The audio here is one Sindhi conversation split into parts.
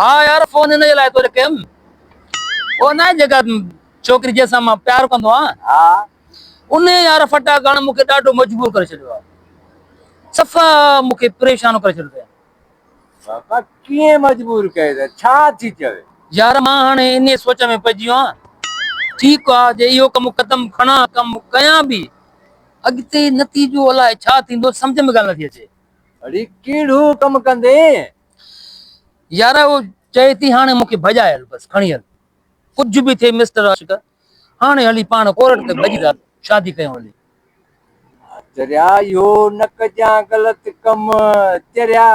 ها يار فون ان جي لاء تو کي ڪيم او نه جيڪا ڇوڪري جنهن سان مان پيار ڪندو آهيان ها ان يار فٽا ڪرڻ مون کي ڏاڍو مجبور ڪري ڇڏيو آهي صفا مون کي پريشان ڪري ڇڏيو اٿئي صفا ڪيئن مجبور ڪيو اٿئي ڇا ٿي چوي يار مان هاڻي انهي سوچ ۾ پئجي ويو آهيان ٺيڪ آهي جي اهو ڪم قدم کڻا ڪم ڪيان به اڳتي نتيجو الائي ڇا ٿيندو سمجهه ۾ ڳالهه نٿي اچي اڙي ڪهڙو ڪم ڪندين يار اهو چئي ٿي هاڻي مون کي ڀڄائي هل بس کڻي هل ڪجهه به ٿئي مسٽر عاشق هاڻي هلي پاڻ ڪورٽ تي ڀڄي ٿا شادي ڪيون هلي. ها چريا اهو نه ڪجان غلط ڪم چريا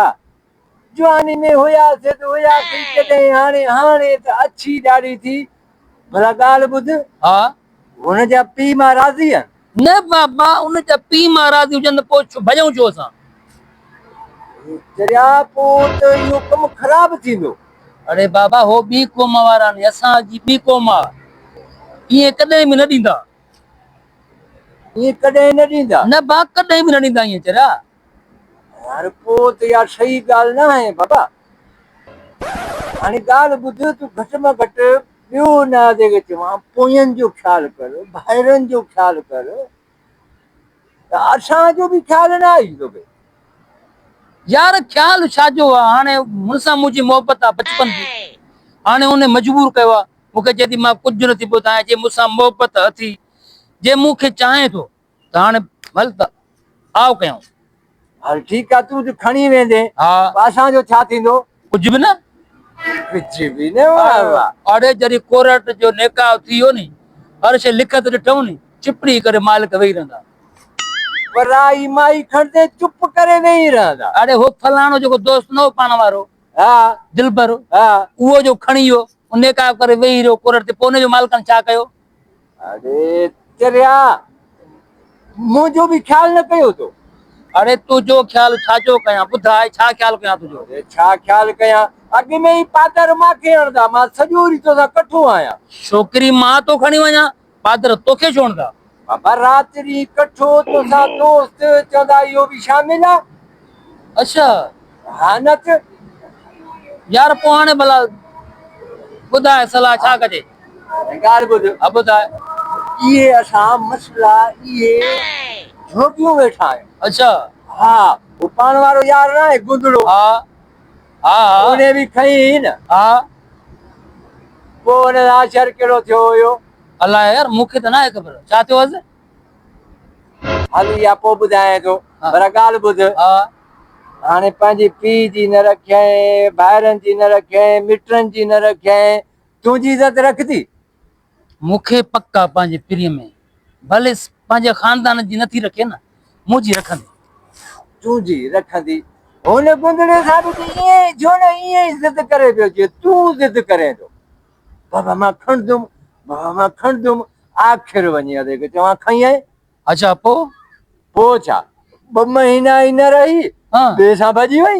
جواني ۾ هياسين ته هياسين ڪڏهن هاڻي هاڻي ته اڇي ڏاڙهي ٿي ڀلا ڳالهه ٻڌ. ها. هن جا پيء ماء راضي آهن؟ نه بابا، ان جا پيء ماء راضي هجن ته پوء ڀڄئون ڇو اسان؟ چريا پوء ته اهو ڪم خراب ٿيندو. اڙي بابا، هو ٻي قوم وارا آهن، اسان جي ٻي قوم آ. ائين ڪڏهن به نه ڏيندا. ائين ڪڏهن نه ڏيندا؟ نه با، ڪڏهن به نه ڏيندا ائين چريا. يار پوء ته اها صحيح ڳالهه ناهي بابا. هاڻي ڳالهه ٻڌ، تون گهٽ مان گهٽ ٻيو نه آ جيڪي چوان، پوين جو خيال ڪر، ڀائرن جو خيال ڪر، ته اسان جو به خيال نه آئي توکي. يار خيال ڇا جو آ، هاڻي هن سان منهنجي محبت آ بچپن جي، هاڻي هن مجبور ڪيو آ، مون کي چئي ٿي مان ڪجهه نه ٿي ٻڌايان، جي مون سان محبت اٿي، جي مون کي چاهين ٿو، ڪاڻ مل ته آء ڪيائون. هل ٺيڪ آ، تون ته کڻي ويندين، پوء اسان جو ڇا ٿيندو؟ ڪجهه به نه. ڪجهه به نه، واه واه. آڙي جڏهن ڪورٽ جو نيڪاء ٿي ويو ني، هر شيء لکت ڏٺائون ني، چپڙي ڪري مالڪ ويهي رهندا. ورائي مائي کڻندي چپ ڪري ويهي رهندا. آڙي هو فلاڻو جيڪو دوست نه هو پاڻ وارو، دلبر، اهو جو کڻي ويو، نيڪاء ڪري ويهي رهيو ڪورٽ تي، پوء ان جو مالڪن ڇا ڪيو؟ اڙي چريا منهنجو به خيال نه ڪيو تو. اڙي تنهنجو خيال ڇا جو ڪيان ٻڌاء ڇا خيال ڪيان تنهنجو. اڙي ڇا خيال ڪيان اڳ ۾ ئي پادر مان کي هڻدا مان سڄو ڏينهن توسان ڪٺو آهيان. ڇوڪري مان تو کڻي وڃان پادر توکي ڇو هڻدا. بابا رات ڏينهن ڪٺو توسان دوست چوندا اهو به شامل آ. اڇا. هانڪ، يار پوء هاڻي ڀلا ٻڌاء صلاح ڇا ڪجي؟ هانڪ، ڳالهه ٻڌ. ها ٻڌاء. اهي اسان مسئلا اهي جهوڪيون ويٺا آهيون. اڇا. ها، هو پاڻ وارو يار ناهي گندڙو. ها ها ها. ان به کنئي هئي نه. ها. پوء ان سان شر ڪهڙو ٿيو هيو؟ الاء يار، مون کي ته ناهي خبر ڇا ٿيو هيس. هل يا پوء ٻڌايانء ٿو. ڀلا ڳالهه ٻڌ. ها. هاڻي پنهنجي پيء جي نه رکيائين، ڀائرن جي نه رکيائين، مٽن جي نه رکيائين، تنهنجي عزت رکندي؟ مون کي پڪ آ پنهنجي پرينء ۾، ڀليس پنهنجي خاندان جي نٿي رکي نه، منهنجي رکندي؟ تنهنجي رکندي؟ هن گندڙي سان به ته ائين ئي ٿيو نه، ائين ئي ضد ڪري پيو جيئن تون ضد ڪرين ٿو. بابا مان کڻندم، بابا مان کڻندم، آخر وڃي ادي کي چوان کنئين، اڇا پوء؟ پوء ڇا؟ ٻه مهينا ئي نه رهي ٻئي سان ڀڄي وئي.